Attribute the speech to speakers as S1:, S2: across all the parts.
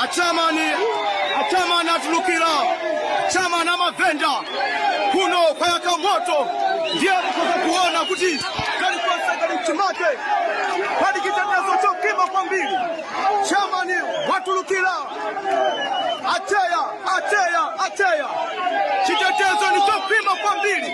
S1: acheyamani acheyamani atulukira cheyamani wamavenda kuno kwayaka moto ndiye kukoza kuona kuti kalikonse kali m'chimake pali chitetezo chokhwima kwambiri cheyamani watulukira acheya acheya acheya chitetezo ndi chokhwima kwambiri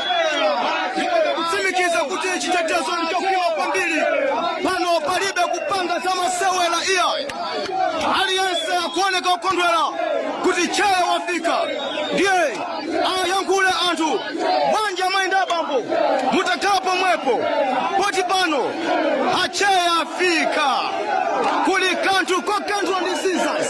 S1: akutsimikiza kuti chitetezo ndi chokhwima kwambiri pano palibe kupanga za masewera iyayi aliyense akuoneka kukondwera kuti cheya wafika ndiye ayankhule anthu bwanji mayenda abambo mutakhala pomwepo poti pano acheya afika kuli kanthu kokanthwa ndi sizas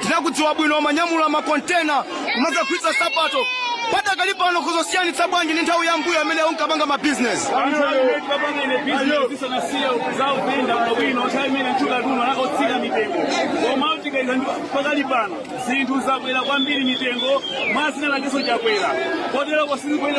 S1: tikudziwa bwino mumanyamula makontena kumakagulitsa nsapato pakadali pano mukusiyanitsa bwanji ndi nthawi ya mmbuyo imene munkapanga mabizinesi pakadali pano zinthu zakwera kwambiri mitengo mwazina lakenso chakwera kotero sizikuyenda